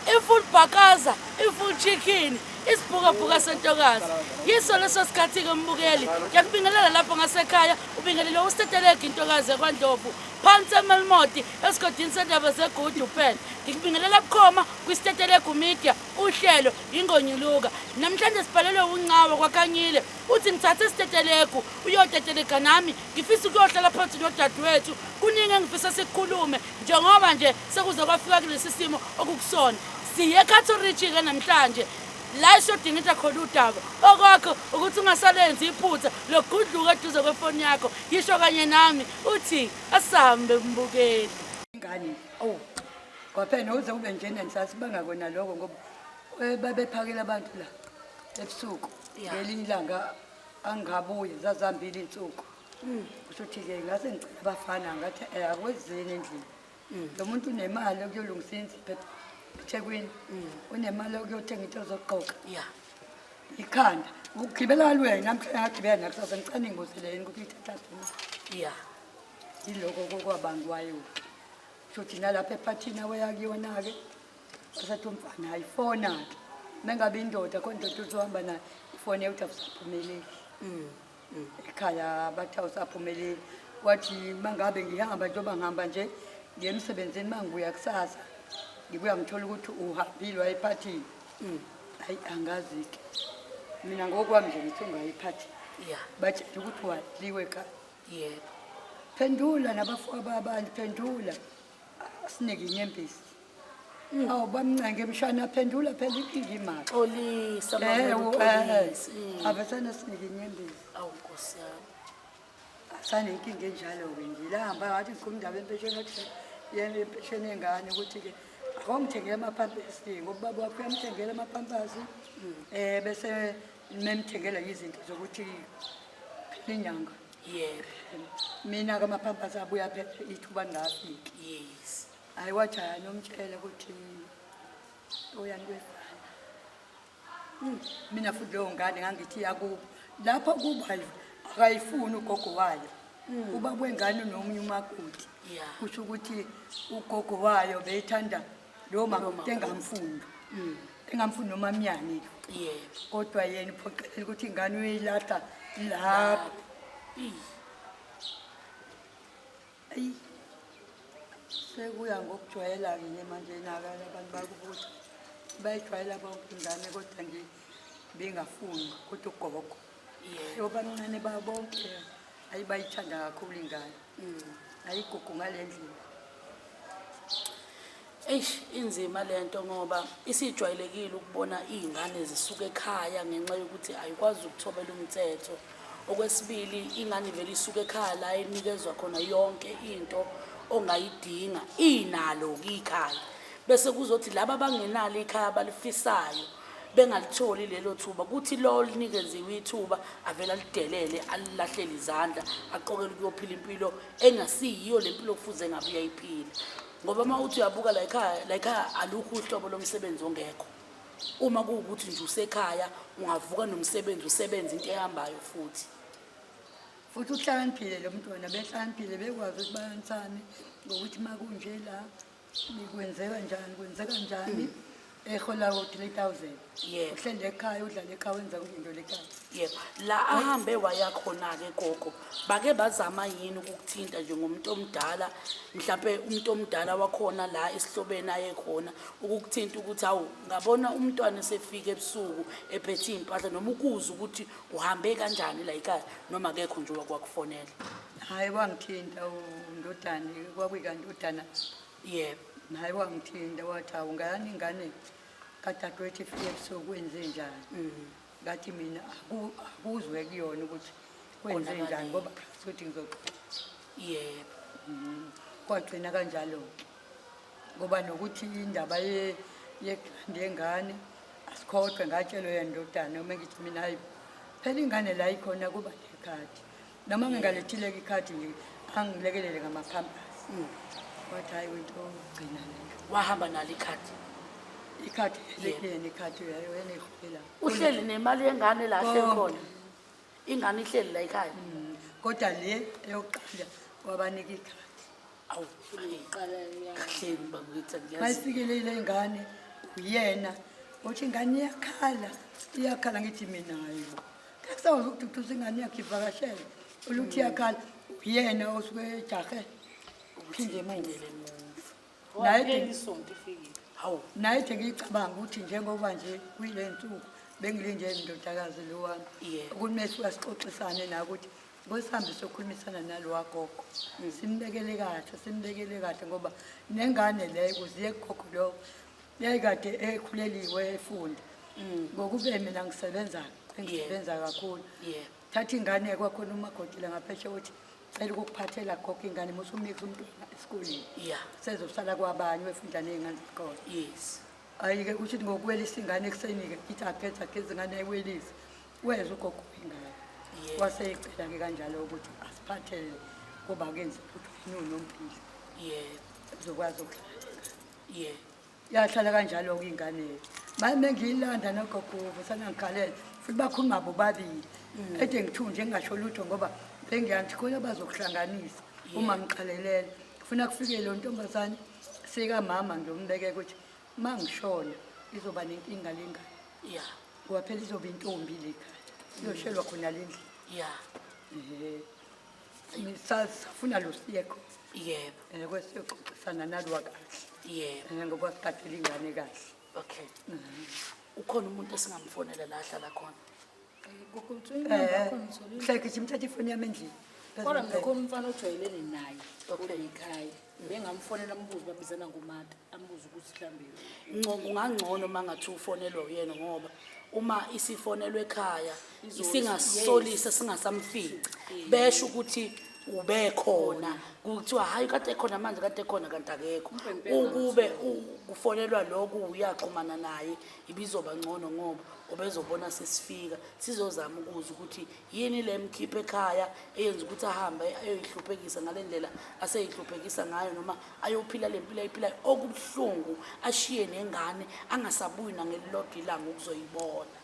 I-full bhakaza, i-full chicken, isibhukabhuka sentokazi. Yiso leso sikhathi-ke umbukeli. Ngiyakubingelela lapho ngasekhaya, ubingelele ustetelegi intokazi yakwandlovu. Phansi emelimoti, esigodini sendaba zegudu kuphela. Ngikubingelela bukhoma kwistetelegu media, uhlelo yingonyuluka. Namhlanje sibhalelwe wuncawa kwakhanyile. Uthi ngithathe istetelegu, uyotetelega nami. Ngifisa ukuyohlala phansi nodadewethu. Kuningi engifisa sikukhulume. Njengoba nje sekuze kwafika kulesi simo okukusona, siye eCatholic-ke namhlanje la esodingida khona udaba okwakho ukuthi ungasalenzi iphutha lokugudluka eduze kwefoni yakho yisho kanye nami uthi asihambe mbukeli ingane oh kwaphela uze ube njena nsasi bangakona lokho ngoba eh, babephakela abantu la ebusuku ngelinye ilanga angabuye zazambili insuku Mm, kusho ukuthi-ke ngase ngicela abafana ngathi eh, akwenzeni endlini Mm. lo muntu unemali yokuyolungisa indlu phe- ethekwini Mm. unemali yokuyothenga into zokugqoka ya ikhanda ukugibela kalwena namhlanje ngagibela nakusasa ngicela ningibuzeleeni ukuthi ithathaphi ya yiloko kokwabangiwayo kusho ukuthi nalapha ephathini awaya kuyona-ke asathi umfana ayifona-ke mengabe indoda khona indoda uzohamba nayo ifone ukuthi akusaphumeleli Mm. ekhaya bathi awusaphumeleli wathi mangabe ngihamba njengoba ngihamba nje ngiye emsebenzini mangibuya kusasa ngibuya ngithola ukuthi uhambile wayephathini mm. hayi angazi-ke mina ngokwami nje ngithi ungayephathini batshela ukuthi wadliwe ekhaya yebo phendula nabafo ababani phendula sinike inyembezi No, bamncenga emshwana aphendula phela inkinga imali. Xolisa Eh, mama u- eh, uxolise. Mm. Avesane sinike inyembezi. Awu Nkosi yami. Sanenkinga enjalo-ke nje. Lahamba ngathi ngikhuluma indaba yempesheni athi yena impesheni yengane ukuthi-ke akongithengela amapampasi ngoba baba wakho uyamthengela amapampasi um bese memthengela yizinto zokuthi phela inyanga Yebo. mina-ke amapampasi abuya phela ithuba lingafiki Yes. Hayi wajaya nomtshela ukuthi oyani kwefana. Hmm, mina futhi leyo ngane ngangithi yakubo. Lapha kubayo akayifuni ugogo wayo. Hmm. Uba kwengane nomunye umakoti. Kusho ukuthi ugogo wayo beyithanda lo mama engamfundi. Hmm. Engamfundi noma myani. Yebo. Kodwa yena uphoqelela ukuthi ingane uyilahla lapha. Ayi sekuya ngokujwayela-ke nje manje nakala abantu bakubuthi bayijwayela bonke ingane kodwa nje bengafuni kodwa ugogo yobancane babonke ayi bayithanda kakhulu ingane mm. ayigugu ngale ndlela Eish inzima lento ngoba isijwayelekile ukubona izingane zisuka ekhaya ngenxa yokuthi ayikwazi ukuthobela umthetho. Okwesibili ingane vele isuka ekhaya la inikezwa khona yonke into ongayidinga inalo ikhaya. Bese kuzothi laba abangenalo ikhaya abalifisayo bengalitholi lelo thuba kuthi lo linikeziwe ithuba avele alidelele alilahlele izandla aqokele ukuyophila impilo engasiyiyo lempilo kufuze ngabe uyayiphila ngoba uma uthi uyabuka la ekhaya la ekhaya alukho uhlobo lomsebenzi ongekho uma kuwukuthi nje usekhaya ungavuka nomsebenzi usebenze into ehambayo futhi futhi uhlakaniphile lo mntu wena behlakaniphile bekwazi ukuthi bayanisane ngokuthi uma kunje la kwenzeka njani kwenzeka njani ehola u-3000 Yebo. uhleli ekhaya udlala ekhaya wenza konke into lekhaya yebo la ahambe waya khona-ke gogo bake bazama yini ukukuthinta nje ngomuntu omdala mhlawumpe umuntu omdala wakhona la esihlobeni aye khona ukukuthinta ukuthi hawu ngabona umntwana esefika ebusuku ephethe iy'mpahla noma ukuze ukuthi uhambe kanjani la yikhaya noma kekho nje wakwakufonela hhayi wangithinta undodane kwakuyikandodana yebo naye wangithinta wathi hawu ngani ingane kadadewethu ifike ebusuku kwenze njani ngathi mina aku- akuzwe kuyona ukuthi kwenze njani Konakale. ngoba phakathi ukuthi ngizoxoxa yebo kwagcina kanjalo-ke ngoba nokuthi indaba ye- yegrandi yengane asikhohlwe ngatshelwe yendodana uma ngithi mina hayi phela ingane la ikhona kuba nekhadi Noma ngingalethile ikhadi nje angilekelele ngamapampers. Mm. Wathi hayi wento ogcina leyo. Wahamba nalo ikhadi. Ikhadi lekuyena ikhadi yayo yena iholela. Uhleli nemali yengane la ahleli khona. Ingane ihleli la ekhaya. Mm. Kodwa le eyokuqala wabanika ikhadi. mayifikelele ingane uyena uthi ingane iyakhala iyakhala ngithi minayo kakusakwazi ukududuza ingane yakhe ivakashele oluthi iyakhala uyena osuke ejahe phinde manje hawu naye de ngiyicabanga ukuthi njengoba nje kuyile nsuku bengilinde ndodakazi lowami ukuthi mesiwa sixoxisane nakuthi Boyisihambe sokhulumisana nalowa gogo mm. simbekele kahle simbekele kahle ngoba nengane leyo kuziye kugogo lowo yayikade ekhuleliwe efunda mm. ngokube mina ngisebenza engisebenza kakhulu thatha ingane kwakhona umagodile ngapheshe ukuthi cela ukukuphathela gogo ingane musumikisa umntwana esikoleni sezosala kwabanye wefunda ney'ngane ziqola ayike kusho ukuthi ngokuwelisa ingane ekuseni-ke ithi ageza ageza ingane ayiwelise weza ugogo ingane waseyicela ke kanjalo ukuthi asiphathele kuba kenze ukuthi nonompilo yebo uzokwazi ukuhlala yebo yahlala kanjalo ke ingane manje ngiyilanda nogogo sanangikhalela futhi bakhuluma bobabili mm. ede ngithunje ngingasho lutho ngoba bengiyanthi khona bazokuhlanganisa uma ngiqhalelela funa kufike lo ntombazane sikamama ngiyombekeka ukuthi Uma ngishona izoba nenkinga le ngane. Ya. Ngoba phela izobe intombi le khaya. Iyoshelwa khona le ndlu. Ya. Ehhe. Nisafuna lo siyekho. Yebo. Eh kwesixoxisana nalwa kahle. Yebo. Eh ngoba sigadela ingane kahle. Okay. Ukhona umuntu esingamfonela la ahlala khona. Eh. Hlekhe simthathe ifoni yami endlini. Kodwa ngikhona umfana ojwayelene naye. Okay. Ekhaya. bengamfonela ambuze babizana ngomata ambuze ukuthi mhlawumbe nco kungangcono uma ngathi ufonelwe uyena ngoba uma isifonelwe ekhaya isingasolisa singasamfici besho ukuthi ubekhona kuthiwa hayi kade ekhona manje kade ekhona kanti akekho ukube kufonelwa lokhu uyaxhumana naye ibizoba ngcono ngoba obezobona sesifika sizozama ukuzwa ukuthi Yini le emkhipha ekhaya eyenza ukuthi ahambe ayoyihluphekisa ngale ndlela aseyihluphekisa ngayo noma ayophila le mpilo ayiphilayo okubuhlungu ashiye nengane angasabuyi nangelilodwa ilanga ukuzoyibona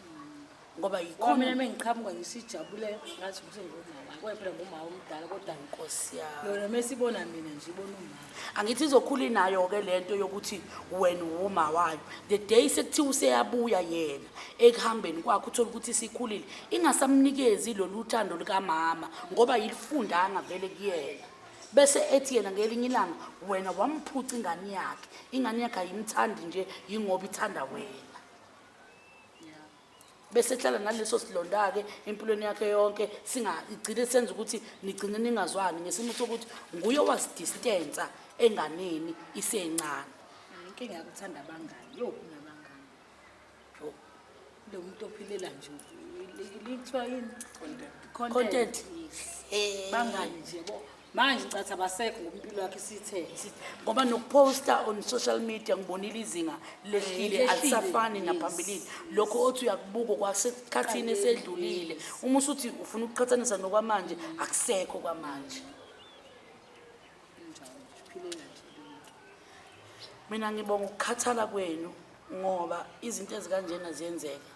ngoba yikhona mina mengiqhamuka ngisijabule ngathi ukuthi ngumama kwempela ngumama omdala kodwa nkosi yami yona mesibona mina nje ibona umama angithi izokhula inayo-ke le nto yokuthi wena uwuma wayo the day sekuthiwa useyabuya yena ekuhambeni kwakhe uthole ukuthi isikhulile ingasamnikezi lolu thando lukamama ngoba yilifundanga vele kuyena bese ethi yena ngelinye ilanga wena wamphuca ingane yakhe ingane yakhe ayimthandi nje yingoba ithanda wena bese hlala naleso silonda-ke empilweni yakhe yonke singagcine senza ukuthi nigcine ningazwani ngesimo sokuthi nguye owasidistensa enganeni isencane inkinga yakuthanda abangani yo unabangani yo lo muntu ophilela nje lithiwa yini content bangani nje bo manje cathi abasekho ngoba impilo yakhe isithe ngoba nokuposta on social media ngibonile izinga lehlile Lehlile. alisafani Yes. naphambilini lokho othi uyakubuka kwasekhathini esedlulile uma usuthi ufuna ukuqhathanisa nokwamanje akusekho kwamanje mina ngibonga ukukhathala kwenu ngoba izinto ezikanjena ziyenzeka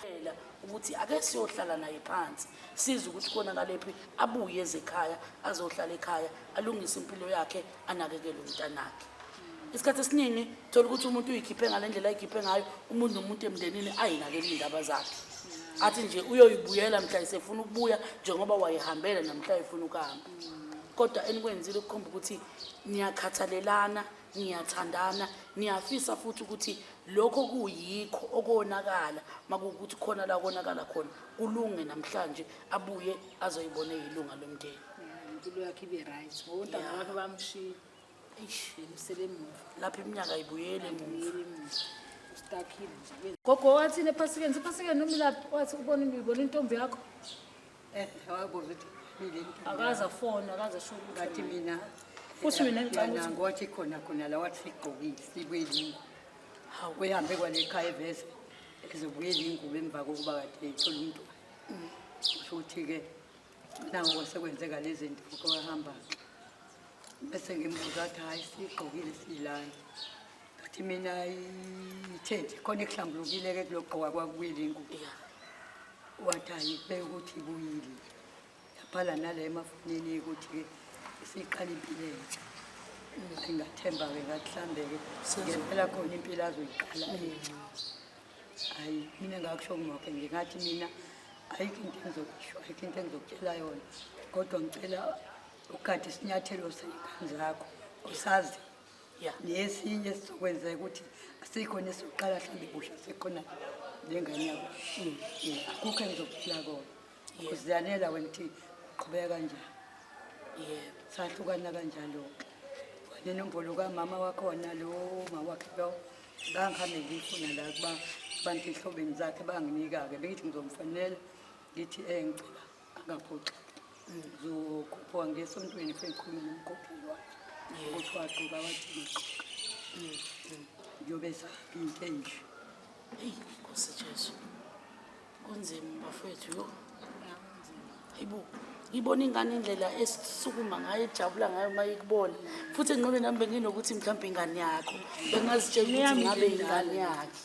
Ela ukuthi ake siyohlala naye phansi size ukuthi kona kalephi abuye ezekhaya azohlala ekhaya alungise impilo yakhe anakekele umntanakhe isikhathi esiningi thola ukuthi umuntu uyikhiphe ngale ndlela ayikhiphe ngayo umuntu nomuntu emndenini ayinakele iy'ndaba zakhe athi nje uyoyibuyela mhla isefuna ukubuya njengoba wayihambela namhla efuna ukuhamba kodwa enikwenzile ukukhomba ukuthi niyakhathalelana niyathandana niyafisa futhi ukuthi lokho kuyikho okonakala makuwukuthi khona la konakala khona kulunge namhlanje abuye azoyibone yilunga lomndeni impilo yakhe ibe right ngontanga wakhe bamshiya emusele emuva lapho iminyaka ibuyele emuva ustakile nje gogo wathini ephasikeni ephasikeni umilaphi wathi ubona into yakho Eh, akaze afone akaze sho ukuthi mina futhi mina ngicabanga ngothi khona khona la wathi sigqokile sibuyelini hawu uhambe kwale khaya evese ezobuyela ingubo emva kokuba kade ethole umuntu usho ukuthi-ke nango sekwenzeka le zinto kwahamba bese ngimbuza athi hhayi sigqokile silana Bhuti mina ithenti khona ekuhlambulukile-ke kulogqoka kwakuwile ingubo ya wathi ayibheke ukuthi ibuyile yaphala nale emafonini ukuthi-ke isiqala impilo entsha ingathemba-ke ngathi hlambe-ke ngempela khona impilo azoyiqala entsha hayi mina ngakusho kumakhe nje ngathi mina ayikho into engizokisho ayikho into engizokutshela yona kodwa ngicela ukugade isinyathelo sey'ngane zakho usazi nesinye esizokwenzeka ukuthi sikhona esizoqala hlambe busha sekhona nengane yabo mm, mm. akukho engizokuphila kona kuziyanela wena ukuthi uqhubeka kanjani yebo sahlukana kanjalo-ke nenombolo kamama wakhona lo mawakhe lo ngangihambe ngiyifuna la kuba abantu ehlobeni zakhe banginika-ke bengithi ngizomfanela ngithi um ngicela akaphoxi zokhuphuka ngesontweni fekhulu nomkhokheli wakhe ukuthi wagqoka wathini ngiyobe sakinte nje eyi nkosi jesu kunzima bafowethu yo hayibo ngibona ingane indlela esukuma ngayo ejabula ngayo uma ikubona futhi enqobe nami benginokuthi mhlawumbe ingane yakho bengazitshela ukuthi ngabe ingane yakhe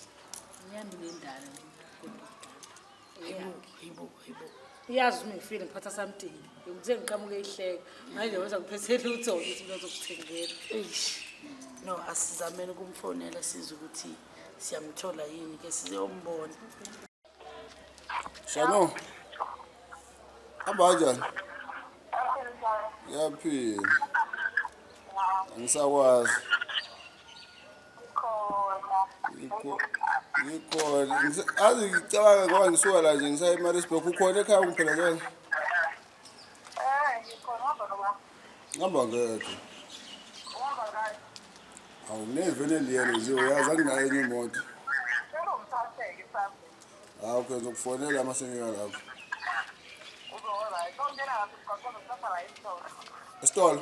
iyazi ungifile ngiphatha samdini ngikuze ngiqamuke ihleka manje wenza kuphethele utho ukuthi mina zokuthengela eish no asizamele kumfonela siza ukuthi siyamthola yini ke sizombona shano hamba kanjani yaphila angisakwazi ngikhona azi ngicabanga ngoba ngisuka la nje ngisaya emarisburg ukhona ekhaya ungiphelezele ngihamba ngeke awu nevele liyelo nje uyazi anginayo enye imoto hawu kwenza ukufonela uma sengika lapho esitolo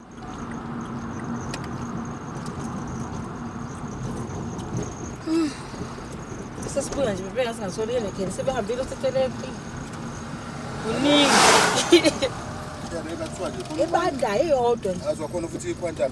sesibuya nje bebeka singatholi yena kheni sebehambile uthetheleki kuningi ibanda iyodwa nje azokhona futhi iquantum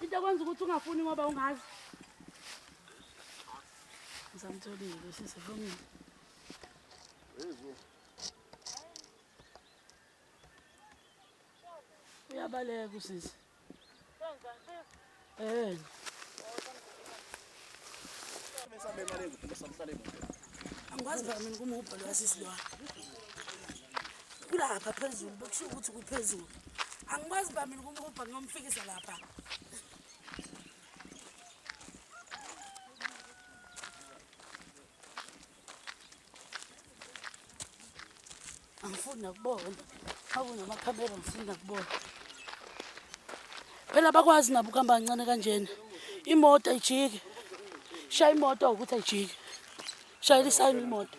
into kwenza ukuthi ungafuni ngoba ungazi ngisamtholile usisi fomile uyabaleka usisi Thank you. Eh. Angikwazi phela mina kumubha lo wasisi lo. Kulapha phezulu bekusho ukuthi kuphezulu. Angikwazi phela mina kumubha ngiyomfikisa lapha. angifuni nakubona akunamakhamera angifuni nakubona phela bakwazi nabo ukuhamba kancane kanjena imoto ayijiki shaya imoto ukuthi ayijiki shayela isayini imoto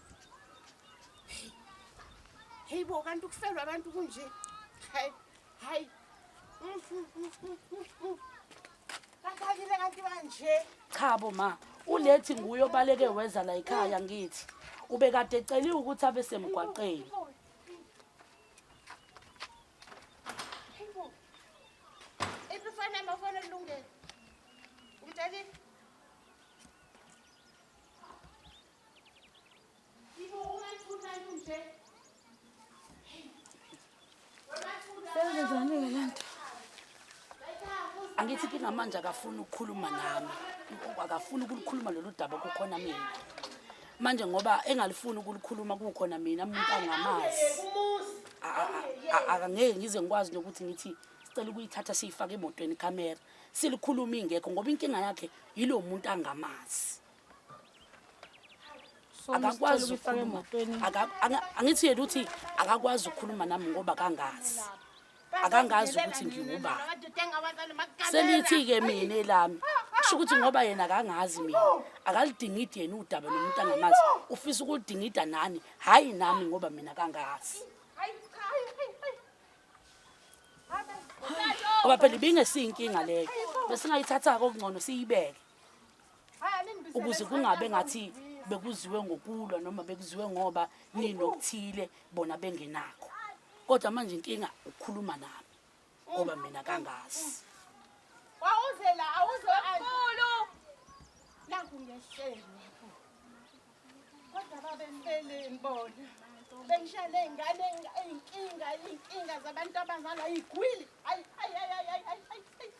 Hey bo kanti ukufelwa abantu kunje. Hay hay. Bakhakile kanti kanje. Cha bo ma, ulethi nguye obaleke weza la ekhaya ngithi. Ubekade eceliwe ukuthi abe semgwaqeni. Senzani-ke le nto angithi phi namanje akafuni ukukhuluma nami akafuni ukulikhuluma lolu daba kukhona mina manje ngoba engalifuni ukulikhuluma kukhona mina muntu angamazi akangeke ngize ngikwazi nokuthi ngithi sicela ukuyithatha siyifake emotweni ikamera silikhuluma ingekho ngoba inkinga yakhe yilo muntu angamazi akakwazi ukukhuluma angithi yena uthi akakwazi ukukhuluma nami ngoba kangazi akangazi ukuthi ngiwuba selithi-ke mina elami kusho ukuthi ngoba yena akangazi mina akalidingidi yena udaba nomuntu angamazi ufisa ukulidingida nani hhayi nami ngoba mina kangazi ngoba phela ibingesiyinkinga leyo besingayithatha-ko okungcono siyibeke ukuze kungabe ngathi bekuziwe ngokulwa noma bekuziwe ngoba ninokuthile bona bengenakho kodwa manje inkinga ukukhuluma nami ngoba mina kangazi wawuze la awuze kakhulu nangu ngehlelo kodwa babemfeleni bona bengishaya ney'ngane ey'nkinga iy'nkinga zabantu abazalwa iy'gwili ayi ayi ayi ayi ayi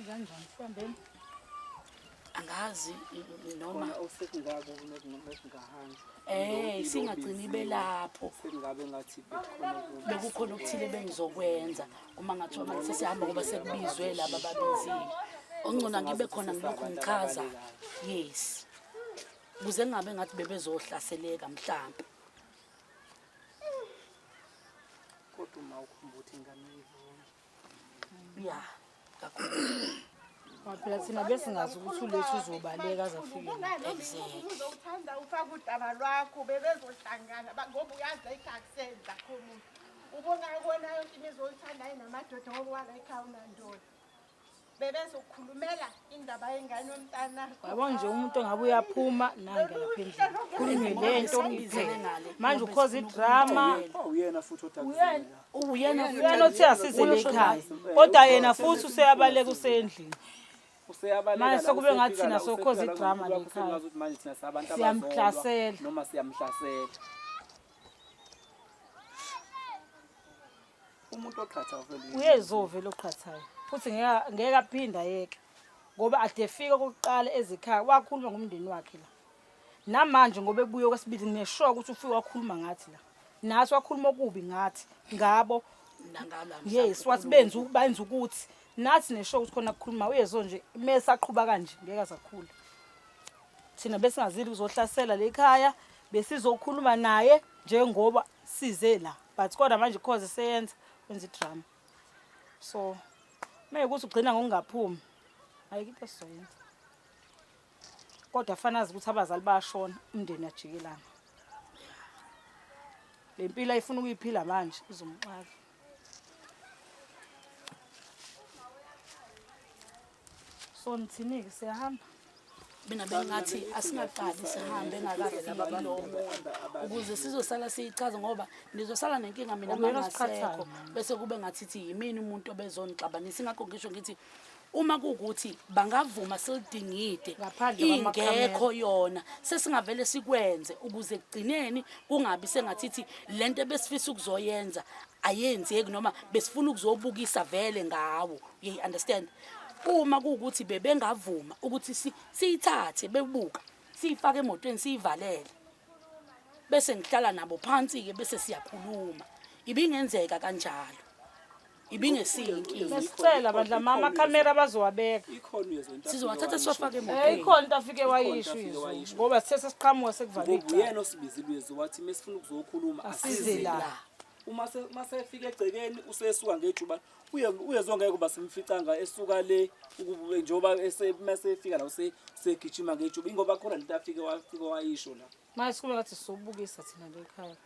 kanjani sihambeni angazi noma sekungako kunokungahamba eh singagcini belapho sengabe ngathi bekukhona okuthile bengizokwenza uma ngathiwa manje sihamba ngoba sekubizwe laba babizile ongcono ngibe khona ngilokhu ngichaza yes kuze ngabe ngathi bebezohlaseleka mhlawumbe Kodwa uma ukhumbuka ukuthi ingane uyivuna. Ya. Ngoba phela thina besingazi ukuthi ulethu uzobaleka azafike. uzowuthanda ufake udaba lwakho bebezohlangana ba- ngoba uyazi la ekhaya kusenza kho muntu ubona kona yonke into ezoyithandayo namadoda ngoba wala ekhaya unandoda bebezokhulumela indaba yengane yomntanakho yabo nje umuntu ongabe uyaphuma nangena phendula khulunywe le nto ngiyibheke manje ukhoza idrama uyena futhi odakuzelela uyena uyena othi asize lekhaya kodwa yena futhi useyabaleka usendlini manje sekube ngathi thina sokhoza idrama lekhaya siyamhlasela noma siyamhlasela umuntu oqhatha uvele uyezovi loqhathayo futhi ngeke ngeke aphinda yeke ngoba ade efika kokuqala ezikhaya wakhuluma ngomndeni wakhe la namanje ngoba ebuye kwesibili ngisho ukuthi ufike wakhuluma ngathi la nathi wakhuluma okubi ngathi ngabo yes wathi benza benza ukuthi nathi nesho ukuthi khona kukhuluma uyezo nje mese aqhuba kanje ngeke asakhula thina besingazili kuzohlasela lekhaya besizokhuluma naye njengoba size la but kodwa manje cause iseyenza wenza idrama so uma ukuthi ugcina ngokungaphumi ayikho into esizoyenza kodwa fana azi ukuthi abazali bayashona umndeni yajikelana le mpilo ayifuna ukuyiphila manje izomxaka So nithini-ke siyahamba? mina bengathi asingaqali sihambe engakafiki lowo ukuze sizosala siyichaze ngoba nizosala nenkinga mina mangasekho bese kube ngathithi yimini umuntu obezonixabanisa ingakho ngisho ngithi uma kuwukuthi bangavuma silidingide ingekho yona sesingavele sikwenze ukuze kugcineni kungabi sengathithi le nto ebesifisa ukuzoyenza ayenzeki noma besifuna ukuzobukisa vele ngawo yeyi understand uma kuwukuthi bebengavuma ukuthi siyithathe bebuka siyifake emotweni siyivalele bese ngihlala nabo phansi-ke bese siyakhuluma ibingenzeka kanjalo ibingesiyinkingasicela bandla ma amakhamera bazowabeka sizowathatha siwafake eh, ikhona into afike wayisho ngoba sithe sesiqhamuka sekuvaluyena osibizile uzo wathi uma sifuna ukuzokhuluma asize la uma sefika egcekeni usesuka ngejuba uyezwa ngeke uba simficanga esuka le njengoba mesefika la usegijima ngejuba ingoba khona lento afike wafike wayisho la manje sikhuluma ngathi sobukisa thina le khaya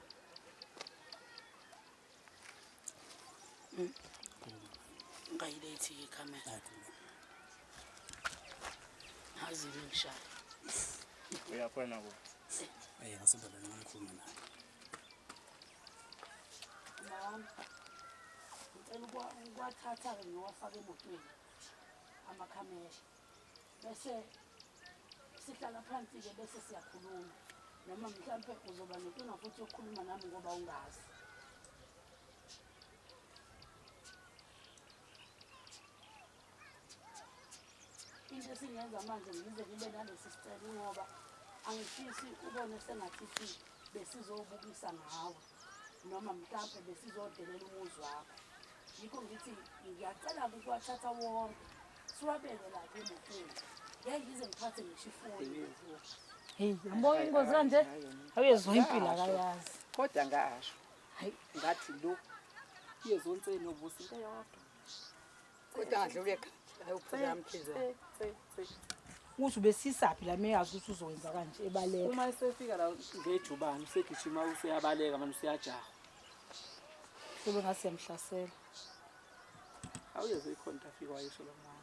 ngayilethi ke camera azi ngishaya uyakhona bo eh ngisibona ngomkhulu naye ukwathatha-ke ngiwafake emotweni amakhamesha bese sihlala phansi-ke bese siyakhuluma noma mhlawumpe uzoba nenkinga futhi yokukhuluma nami ngoba ungazi into esingenza manje ngize ngibe nalesi sicelo ngoba angifisi ubone sengathi si besizobukisa ngawe noma mhlawumbe besizodelela umuzi wakho yikho ngithi ngiyacela kukwathatha wonke siwabeke la kwimotweni ngeke ngize ngiphathe ngisho ifoni heyi yambona ingozi kanje awuyezwa impilo akayazi kodwa ngasho ngathi lo yezonseni obusa into yodwa Kodwa adle ule khathi ayophuza amphizwa. Uthi ubesisaphi la meyazi ukuthi uzowenza kanje ebaleka. Uma esefika la ngejubani usegijima useyabaleka manje useyajaha. Kube ngathi siyamhlasela. Awuyezwe ikhona afika wayisho lo mama.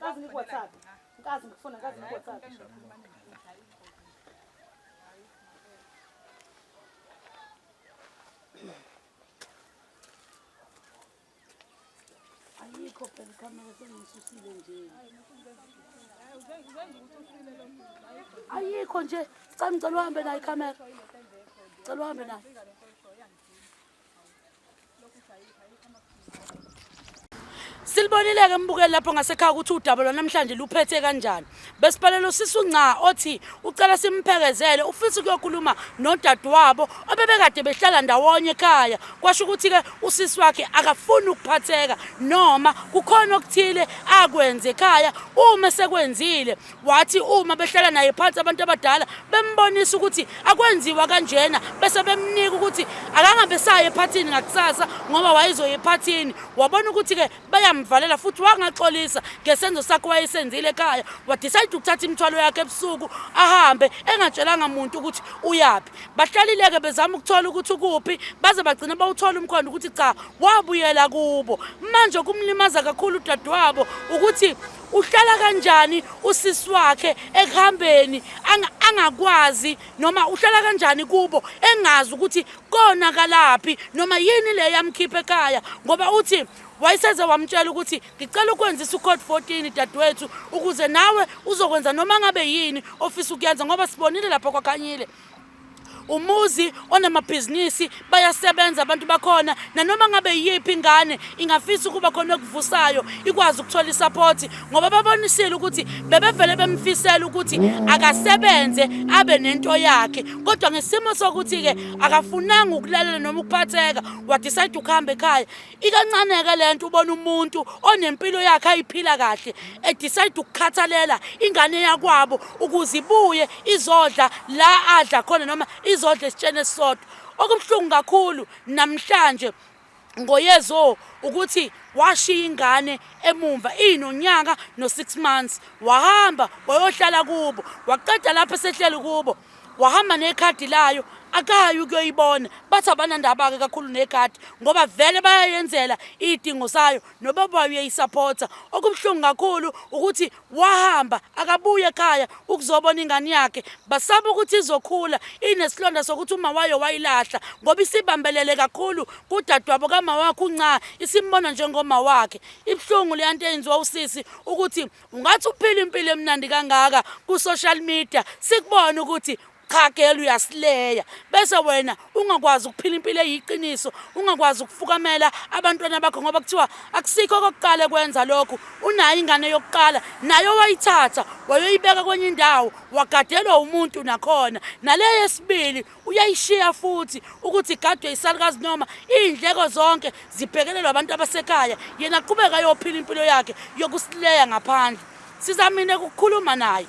Kazi ngiku WhatsApp. Kazi ngikufuna kazi ngiku WhatsApp. Ayikho phela ikamera sengisusile nje. Ayikho nje. Sicela ngicela uhambe nayo ikamera. Cela uhambe nayo. Silibonile-ke embukeli lapho ngasekhaya ukuthi udaba lwanamhlanje luphethe kanjani. Besiphelelo sisu Nca othi ucela simphekezele ufisa ukuyokhuluma nodadewabo obebekade behlala ndawonye ekhaya. Kwasho ukuthi-ke usisi wakhe akafuni ukuphatheka noma kukhona okuthile akwenze ekhaya uma sekwenzile wathi uma behlala naye phansi abantu abadala bembonisa ukuthi akwenziwa kanjena bese bemnika ukuthi akangabe saye ephathini ngakusasa ngoba wayezoya ephathini wabona ukuthi-ke bayamvalela futhi wangaxolisa ngesenzo sakhe wayesenzile ekhaya wadicide ukuthatha imithwalo yakhe ebusuku ahambe engatshelanga muntu ukuthi uyaphi bahlalile-ke bezama ukuthola ukuthi ukuphi baze bagcine bawuthola umkhondo ukuthi cha wabuyela kubo manje kumlimaza kakhulu udadewabo ukuthi uhlala kanjani usisi wakhe ekuhambeni angakwazi noma uhlala kanjani kubo engazi ukuthi kona kalaphi noma yini le yamkhipha ekhaya ngoba uthi wayeseze wamtshela ukuthi ngicela ukwenzisa ucode 14 dadewethu ukuze nawe uzokwenza noma ngabe yini ofisa ukuyenza ngoba sibonile lapho kwakhanyile umuzi onamabhizinisi bayasebenza abantu bakhona nanoma ngabe yiyiphi ingane ingafisa ukuba khona okuvusayo ikwazi ukuthola isapoti ngoba babonisile ukuthi bebevele bemfisela ukuthi akasebenze abe nento yakhe kodwa ngesimo sokuthi-ke akafunanga ukulalela noma ukuphatheka wadicide ukuhamba ekhaya Ikancane-ke le nto ubona umuntu onempilo yakhe ayiphila kahle edicide ukukhathalela ingane yakwabo ukuze ibuye izodla la adla khona noma izodla esitsheni esisodwa okubuhlungu kakhulu namhlanje ngoyezo ukuthi washiya ingane emumva iyinonyaka no-6 months wahamba wayohlala kubo waqeda lapho esehleli kubo wahamba nekhadi layo akayi ukuyoyibona bathi abanandaba-ke kakhulu nekhadi ngoba vele bayayenzela iy'dingo sayo nobaba uyeyisaphotha okubuhlungu kakhulu ukuthi wahamba akabuye ekhaya ukuzobona ingane yakhe basaba ukuthi izokhula inesilonda sokuthi uma wayo wayilahla ngoba isibambelele kakhulu kudadewabo kama wakhe unca isimbona njengoma wakhe ibuhlungu leya nto eyenziwa usisi ukuthi ungathi uphila impilo emnandi kangaka ku social media sikubone ukuthi cha girl uyasileya bese wena ungakwazi ukuphila impilo eyiqiniso ungakwazi ukufukamela abantwana bakho ngoba kuthiwa akusikho kokuqala kwenza lokhu unayo ingane yokuqala nayo wayithatha wayoyibeka kwenye indawo wagadelwa umuntu nakhona naleyo esibili uyayishiya futhi ukuthi igadwe isalukazi noma iy'ndleko zonke zibhekelelwa abantu abasekhaya yena qhubeka yophila impilo yakhe yokusileya ngaphandle sizamine ukukhuluma naye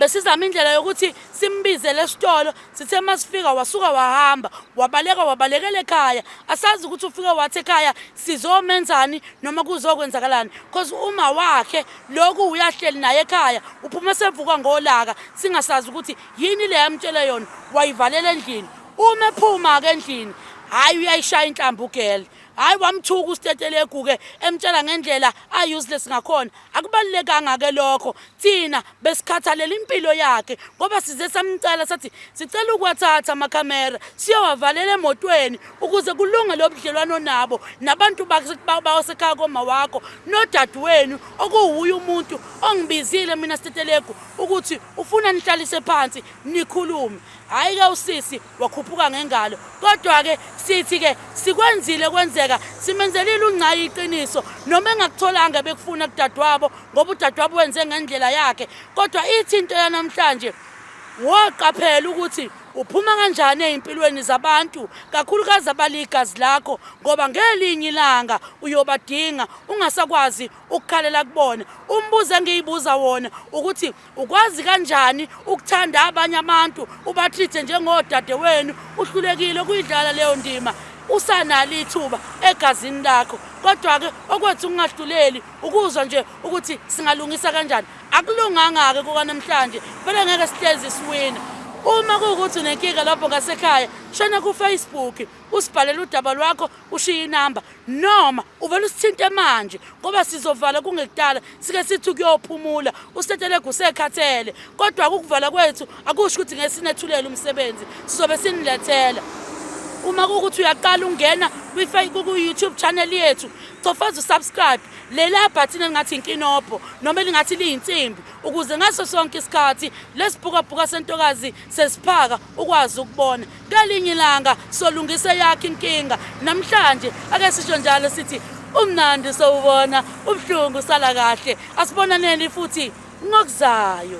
besizama indlela yokuthi simbizele esitolo sithe uma sifika wasuka wahamba wabaleka wabalekela ekhaya asazi ukuthi ufike wathi ekhaya sizomenzani noma kuzokwenzakalani cause uma wakhe lokhu uyahleli naye ekhaya uphuma sevuka ngolaka singasazi ukuthi yini le yamtshela yona wayivalela endlini uma ephuma-ke endlini hhayi uyayishaya inhlamba ugele hhayi wamthuka ustetelegu-ke emtshela ngendlela a-useless ngakhona akubalulekanga-ke lokho thina besikhathalela impilo yakhe ngoba size samcela sathi sicela ukuwathatha amakhamera siyowavalela emotweni ukuze kulunge lo budlelwano nabo nabantu bawasekhaya koma wakho nodadewenu okuwuye umuntu ongibizile mina stetelegu ukuthi ufuna nihlalise phansi nikhulume hhayi ke usisi wakhuphuka ngengalo kodwa-ke sithi-ke sikwenzile kwenzeka simenzelile ungcayi iqiniso noma engakutholanga bekufuna kudadewabo ngoba udadewabo wenze ngendlela yakhe kodwa ithi into yanamhlanje woqaphela ukuthi uphuma kanjani ezimpilweni zabantu kakhulukazi abaligazi lakho ngoba ngelinye ilanga uyobadinga ungasakwazi ukukhalela kubona umbuzo engiyibuza wona ukuthi ukwazi kanjani ukuthanda abanye abantu ubathithe njengodade wenu uhlulekile ukuyidlala leyo ndima usanalo ithuba egazini lakho kodwa-ke okwethu kungahluleli ukuzwa nje ukuthi singalungisa kanjani akulunganga-ke kokanamhlanje vele ngeke sihlezi siwina uma kuwukuthi unenkinga lapho ngasekhaya shona kufacebook usibhalele udaba lwakho ushiye inamba Noma uvela usithinte manje ngoba sizovala kungekudala sike sithi kuyophumula usetelegu sekhathele kodwa ukuvala kwethu akusho ukuthi ngeke sinethulela umsebenzi sizobe sinilethela uma kukuthi uyaqala ungena kwi-youtube channel yethu cofaza usubscribe lela bhathini elingathi inkinobho noma elingathi liyinsimbi ukuze ngaso sonke isikhathi lesibhukabhuka sentokazi sesiphaka ukwazi ukubona Ngelinye ilanga solungisa yakhe inkinga. Namhlanje ake sisho njalo sithi umnandi sowubona, ubuhlungu sala kahle. Asibonaneni futhi ngokuzayo.